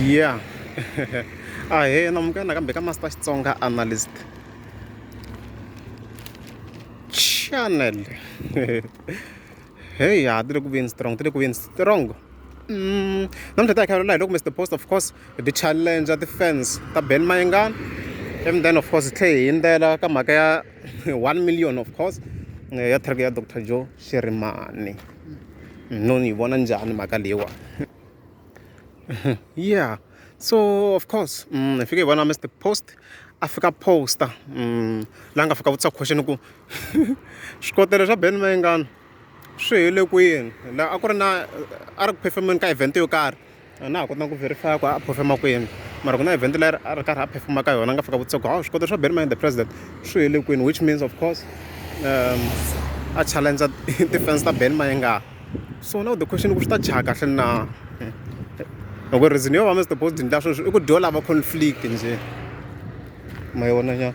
ya a he na munghana kambe ka master xitsonga analyst channel hey ha ti le ku veni strong ti le ku veni strong mm, namuntlha ta hi khalela hi loko mr post of course ti challenge ti-fans ta ben mayengana and then of course hi tlhe hi yindzela ka mhaka ya one million of course ya thirty ya doctor joe xirimani no ni yi vona njhani mhaka leyiwa yeah so of course mm, hi fike hi vona mr post a fika poster mm, la nga fika vutisa question ku swikotelo swa ben mayengana swi hele kwini la a ku ri na a ri ku performeni ka event yo karhi a na ha kotanga ku verify ku a phofema kwini mara ku na event leri a ri karhi a phefuma ka yona a nga fika vutisa ku hawu swikoto swa Benny the president swi hele kwini which means of course um a challenge ti-fans ta Benny Mayenga so now the question ku swi ta chaya kahle na loko hmm. reason yo va Mr Boss Dindla sweswi i ku dyo lava conflict njhe ma yona nya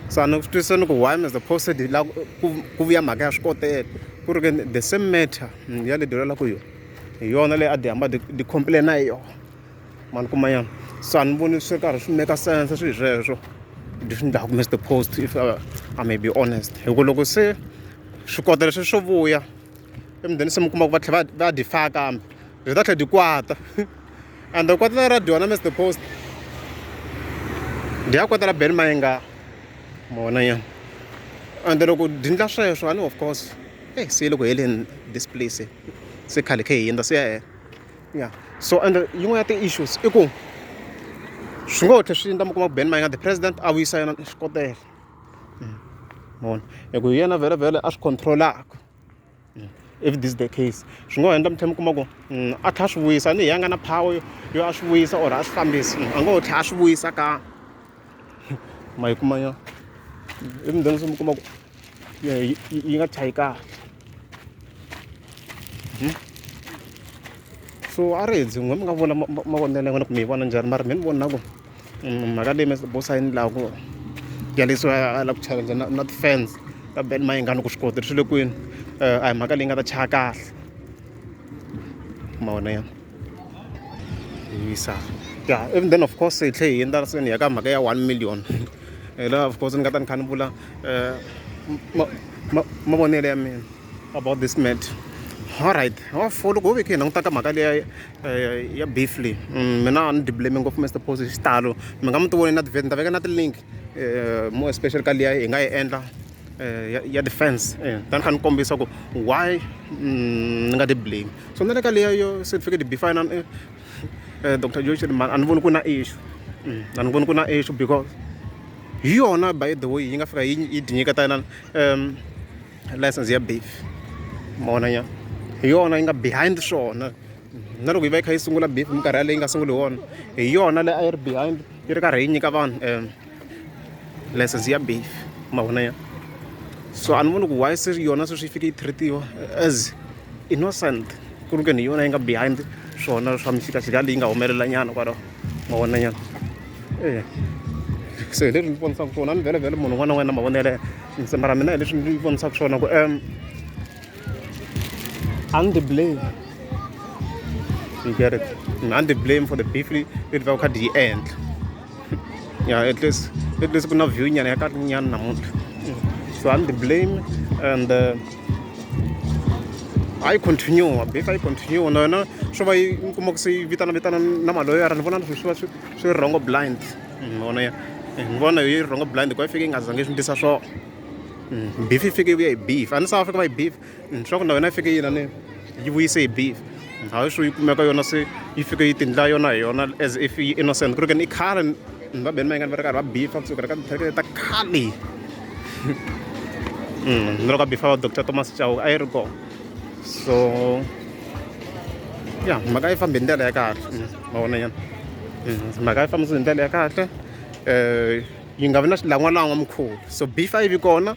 so a ni ku twisisani ku why Mr Boss Dindla ku vuya mhaka ya swikotela ku ri ke the same matter hmm, ya le dyolela ku yona hi yona leyi a ti hamba ti ti complain-a hi yona mani kumanyana so a ni voni swi karhi swi make sense swilo sweswo leswi ni dlaku Mister Post if uh, I may be honest hi ku loko se swi kota leswi swo vuya emudeni se mi kuma ku va tlhela va va difaya kambe byi ta tlhela di kwata and the kwata ra dyona Mister Post ndi ya kwata la Ben Mayenga mona yena and loko dindla sweswo a ni of course eh se loko heleni this place se khale khe hi hundza swi ya hela ya so ende yin'wana ya ti-issues i ku swi ngo tlhe swi endla mi kuma ku ben mayinga the president a vuyisa yena xikotela mm. mona hi ku hi yena vhele vhele a swi controlaka mm. if this the case swi ngo endla mi tlhe mi kuma ku mm, a tlha a swi vuyisa ni hi ya nga na power yo yo a swi vuyisa or a swi fambisi a ngo tlhe a swi vuyisa ka ma yi kuma yona i mi dyondzisa mi kuma ku yi yi nga chayi kahle hmm? so a ri hedzi n'we mi nga vona mavonelo ya n'wina kumbe yi vona njhani mara mi ni vona ku mm, mhaka leyi mibosayini laha ku yalisiwa a lava ku challenge na na ti-fans ka ben mayingani ku swi koti swi le kwini eh, a hi mhaka leyi nga ta chaya kahle mavona ya yisa ya even then of course hi tlhe hi endla se ni ya ka mhaka ya one million hi laha of course ni nga ta ni kha ni vula um mavonelo ya mina about this matter alright for loko ho ve khe hi languta ka mhaka leya eh, ya beef leyi mm, mina a ni diblame ngopfu mr post hi xitalo mi nga mi ti voni na tivheti ni ta veka na tilink eh, more especially ka liya hi nga yi endla eh, ya, ya defense eh, tani kha ni kombisa ku why mm, ni nga ti blame so na le ka leya yo certificate b fine eh, eh, dr josh a ni voni ku na issue mm, a ni voni ku na issue because hi yona by the way yi nga fika yi di nyiketa yena um license ya beef mona nya hi yona yi nga behind swona na loko yi va yi kha yi sungula beef minkarhi yaleyi yi nga sunguli hi wona hi yona leyi a yi ri behind yi ri karhi yi nyika vanhu um license ya baf ma vona ya so a ni voni ku why se yona sweswi yi fike yi treatiwa as innocent ku ri ke ni yona yi nga behind swona swa mixikaxika leyi nga humelela nyana kwalaho ma vona nyana e so hi leswi ndzi vonisaka swona ni vhelemvhele munhu un'wana na un'wana na mavona yaleyo ntsema ra mina hi leswi ndzi vonisaka swona ku um a ni blame you get it a ni blame for the beef leyi ni vaka kha di yi endla yeah at least at least kuna view nyana yakatinyana namuntlha so i'm the blame and uh, hayi continue bif hayi continue na yona swo va yi mi kuma ku se yi vitana vitana na maloyara ni vona swi va swi rhongo blind mm, vona ya ni vona yi rhongo blind ku yi fike yi nga zange swi ndlisa swona mm, bif yi fike yi vuya hi bif a ni south africa va yi bif leswaku na yona yi fike yina ni yi vuyise hi beef hayi swo yi kumeka yona se yi fike yi tindla yona hi yona as if yi innocent ku ri keni i khale ni va beni mayingani va ri karhi va beefa kusuka ri ka tithekele ta khale ni loko a beefa va doctor thomas chauka a yi ri kona so ya mhaka yi fambe hi ndlela ya kahle ma vona yena mhaka yi fambisa hi ndlela ya kahle um yi nga vi na xilangwalangwa mukhuva so beef a yi vi kona